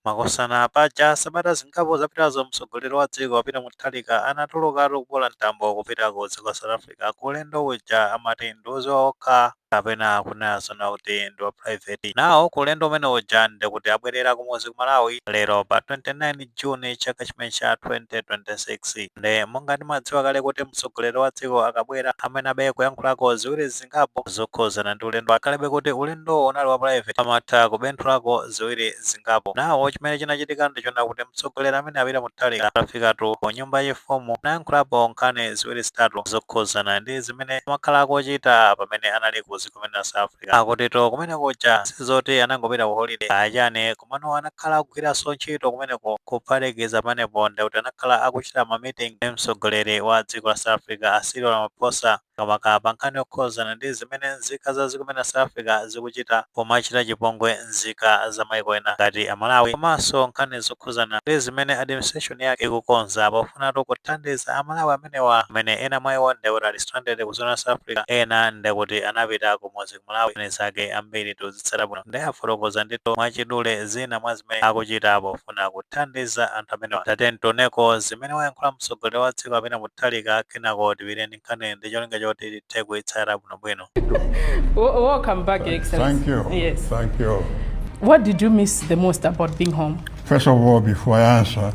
Makosana paja sabata zingapo zapitazo mtsogoleri wa dziko Peter Mutharika anatulukatu kubola mtambo kupita ku dziko la South Africa ku ulendo uja amati ndi woziwa okha kapena kunena zona kuti ndi wa private. Nawo ku ulendo umene uja nde kuti abwerera kumuzi ku Malawi lero pa 29 June chaka chimene cha 2026. nde monga timadziwa kale kuti mtsogoleri wa dziko akabwera amayenabe kuyankhulako ziwiri zingapo zokhuzana ndi ulendo akhalebe kuti ulendo unali wa private amatha kubenthulako ziwiri zingapo nawo chimene chinachitika ndi choona kuti mtsogoleri amene a Peter Mutharika atafikatu ku nyumba yachifumu nayankhulapo nkhani ziwiri zitatu zokhuzana ndi zimene amakhala akuchita pamene anali ku dziko limene la south africa akutitu kumene kuja sizoti anangopita ku holiday achani komano anakhala akugwiranso ntchito kumeneko kuphatikiza pamenepo ndekuti anakhala akuchita ma meeting ndi mtsogoleri wa dziko la South Africa a Cyril Ramaphosa makamaka pa nkhani yokhuzana ndi zimene nzika za dziko limene la South Africa zikuchita pomachita chipongwe nzika za maiko ena ngati a Malawi komanso nkhani zokhuzana ndi zimene administration yake ikukonza pofunatu kuthandiza a Malawi amenewa amene ena mwa iwo ndekuti ali stranded ku dziko la South Africa ena ndekuti anapita kumudzi ku Malawi zimene anzake ambiri tikuzitsata bwino nde afotokoza ndithu mwachidule zina mwa zimene akuchita pofuna kuthandiza anthu amenewa. Tatiyeni tioneko zimene wayankhula mtsogoleri wa dziko a Peter Mutharika kenako tipite ndi nkhani ndi cholinga choti tithe kuitsata bwinobwino. Wo- Welcome back, Your Excellency. Thank you. Yes. Thank you. What did you miss the most about being home? First of all, before I answer,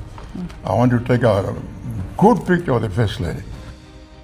I want to take a good picture of the First Lady.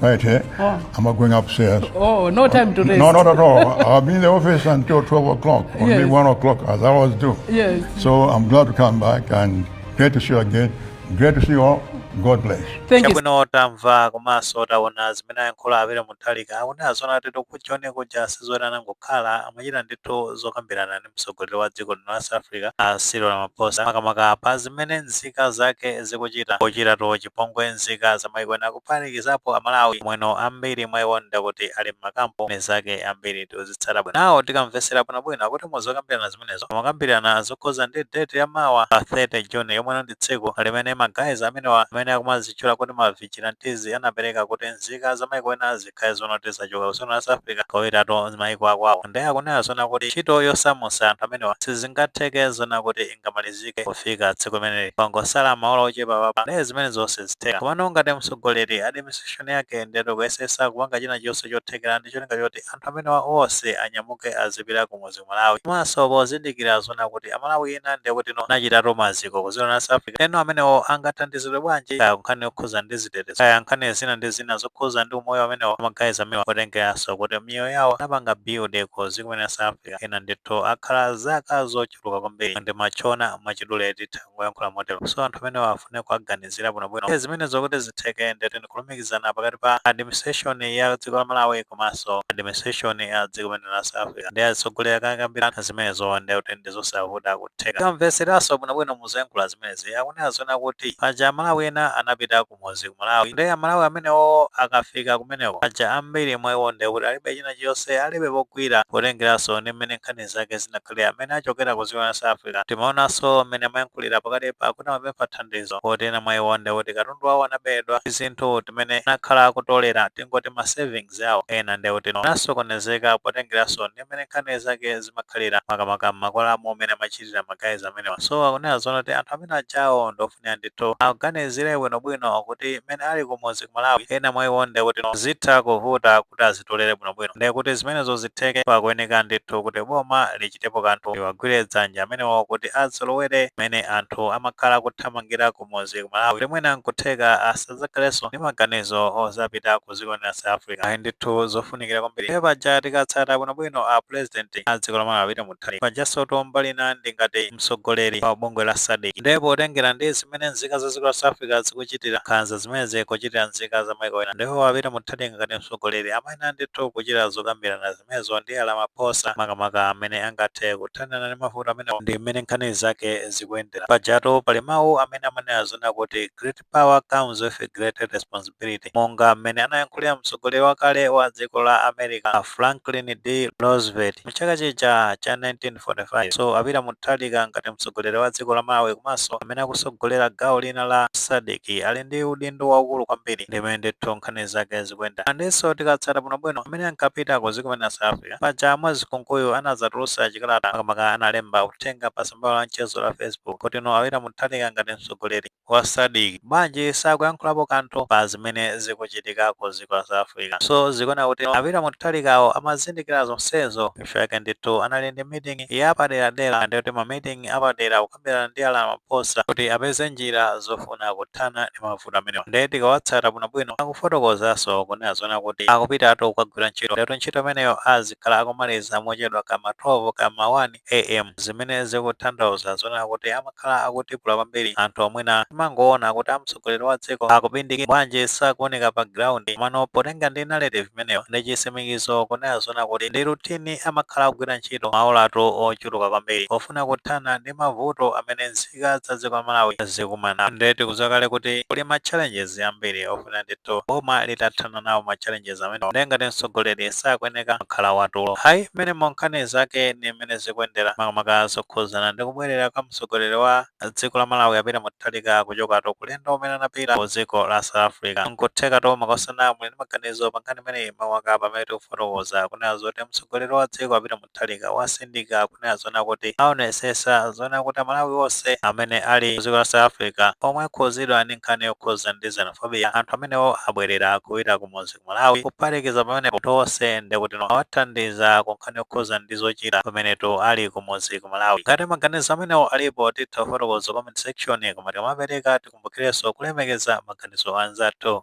Right, eh? Oh. I'm not going upstairs. Oh, no time to rest. No, not at all. I'll be in the office until 12 o'clock, or yes. maybe 1 o'clock, as I always do. Yes. So I'm glad to come back and great to see you again. Great to see you all. God bless. Thank you. Chabwino tamva komanso taona zimene ayankhula a Peter Mutharika akunena zoona kutitu ku Joni kuja sizoti anangokhala amachita ndithu zokambirana ndi mtsogoleri wa dziko lino la South Africa a Cyril Ramaphosa makamaka pa zimene nzika zake zikuchita pochitatu chi pongwe nzika za maiko ena kuphatikizapo amalawi omwenso ambiri mwa iwo ndekuti ali m'makampu nde anzake ambiri tikuzitsata bwino nawo tikamvesera bwinobwino akuti muzokambirana zimenezo amakambirana zokhuza ndi date ya mawa pa 30 june yomwe ndi tsiku limene magayizi amenewa amene akumazitchula kuti ma vigilantes anapereka kuti nzika za maiko ena zi khale zona kuti zachoka ku dziko la South Africa kubwereratu maiko akwawo ndiye akunena zona kuti ntchito yosamusa anthu amenewa sizingatheke zona kuti ingamalizike kufika tsiku limeneli pangosala maola ochepa apapa kuti zimenezo zonse zitheka komano ngati mtsogoleri administration yake ndiyetu ikuyesesa kupanga china chonse chothekera ndi cholinga choti anthu amenewa onse anyamuke azipita kumuzi ku Malawi komanso pozindikira zoona kuti amalawi ena ndekuti no anachitatu maziko ku dziko la South Africa ndeno amenewo angathandizidwe bwanji kaya kunkhani yokhuza ndi zitetezo kaya nkhani zina ndi zina zokhuza ndi umoyo amenewo ma guys amenewa potengeranso kuti miyoyo yawo anapanga build ku dziko la South Africa ena ndithu akhala zaka zochuluka kwambiri ndi machona mwachidule titha kuyankhula motero so anthu amenewa afune kuwaganizira bwinobwino Ndiye zimenezo kuti zitheke ndekuti ndikulumikizana pakati pa administration ya dziko la malawi komanso administration ya dziko limene lija la south africa nde atsogoleri akakambirana zimenezo ndiye kuti ndi zosavuta kutheka kamveseranso bwinobwino muzoyankhula zimenezi akunena zona kuti paja amalawi ena anapita ku kumuzi ku Malawi nde amalawi amenewo akafika kumeneko aja ambiri mwa iwo nde kuti alibe china chonse alibe pogwira potengeranso ndi mmene nkhani zake zinakhalira mmene achokera ku dziko la South Africa timaonanso mmene amayankhulira pakatipa kuti amapempha thandizo kuti ena mwa iwo nde kuti katundu wawo anabedwa tinthu timene anakhala akutolera tingoti ma savings awo ena nde kuti no anasokonezeka potengeranso ndi mmene nkhani zake zimakhalira makamaka m'makwalamo mmene amachita kuchitira ma guys amenewa so akunena zoona kuti anthu amene ajawo ndofunika ndithu awaganizire bwinobwino kuti mmene ali kumudzi ku malawi ena mwa iwo nde kuti no zitha kuvuta kuti azitolere bwinobwino nde kuti zimenezo zitheke pakuyeneka ndithu kuti boma lichitepo kanthu liwagwire dzanja amenewo kuti azolowere mmene anthu amakhala kuthamangira kumudzi ku malawi kuti mwina nkutheka asadzakhalenso ndi maganizo ozapita ku dziko lija la south africa ayi ndithu zofunikira kwambiri nde paja tikatsata bwinobwino a president a dziko la malawi timu Bakri. Pajansotu mbali ina ndi ngati mtsogoleri wa bungwe la Sadc. Nde potengera ndi zimene nzika za dziko la South Africa zikuchitira nkhanza zimene zikuchitira nzika za maiko ena, nde iwo a Peter Mutharika ngati mtsogoleri amayenera ndithu kuchita zokambirana zimenezo ndi a Ramaphosa makamaka mmene angathe kuthanirana ndi mavuto amenewa ndi mmene nkhani zake zikuyendera. Pajatu pali mau amene amanena zoona kuti Great power comes with a great responsibility monga mmene anayankhulira mtsogoleri wakale wa dziko la america a franklin d roosevelt mchaka chija cha 1945 so a Peter Mutharika ngati mtsogoleri wa dziko la malawi komanso amene akusogolera gawo lina la Sadc ali ndi udindo waukulu kwambiri ndi mmene ndithu nkhani zake zikuyenda and nso tikatsata bwinobwino mmene ankapita ku dziko limene la south africa paja a Mwiza Nkunkuyu anazatulusa chikalata makamaka analemba uthenga pa tsamba la mchezo la facebook kuti no a Peter Mutharika ngati mtsogoleri wa Sadc bwanji sakuyankhulapo kanthu pa zimene zikuchitika ku dziko la South Africa? So zikuoneka kuti a Peter Mutharikawo amazindikira zonsezo chifukwa chake ndithu anali ndi meeting yapaderadera ndiye kuti ma meeting apadera kukambirana ndi a Ramaphosa kuti apeze njira zofuna kuthana ndi mavuto amenewa ndiye tikawatsata bwino bwino akufotokozanso kunena zoona kuti akupitatu kukagwira ntchito ndiye kuti ntchito imeneyo azikhala akumaliza mochedwa cha ma 12 cha ma 1 AM, zimene zikutanthauza zoona kuti amakhala akutipula kwambiri anthu omwe timangoona kuti amtsogoleri wa dziko akubindikira bwanji sakuoneka pa ground mano potenga ndi narrative imeneyo ndi chisimikizo kunena zoona kuti ndi routine amakhala akugwira ntchito maolatu ochuluka kwambiri pofuna kuthana ndi mavuto amene nzika za dziko la Malawi zikumana nde tikudziwa kale kuti kuli ma challenges ambiri ofuna ndithu boma litathana nawo ma challenges amenewa ndiye ngati mtsogoleri sakuyeneka kumakhala watulo hayi mmenemo nkhani zake ndi mmene zikuyendera makamaka zokhuzana ndi kubwerera kwa mtsogoleri wa dziko la malawi a Peter Mutharika kuchokatu ku ulendo umene anapita ku dziko la south africa nkuthekatu makosana muli ndi maganizo pankhani imeneyi makamaka pamene tikufotokoza kunena zoti mtsogoleri wa dziko a Peter Mu tharika watsindika kunena zoona kuti aonesesa zoona kuti amalawi onse amene ali ku dziko la South Africa omwe akhudzidwa ndi nkhani yokhudza ndi xenophobia anthu amenewo abwelera kupita kumudzi ku Malawi kuphatikiza pamenepo anthu onse ndekuti awathandiza ku nkhani yokhudza ndi zochita pamenetu ali kumudzi ku Malawi ngati maganizo amenewo alipo titha kufotokoza comment section koma tikamapereka tikumbukirenso kulemekeza maganizo a anzathu.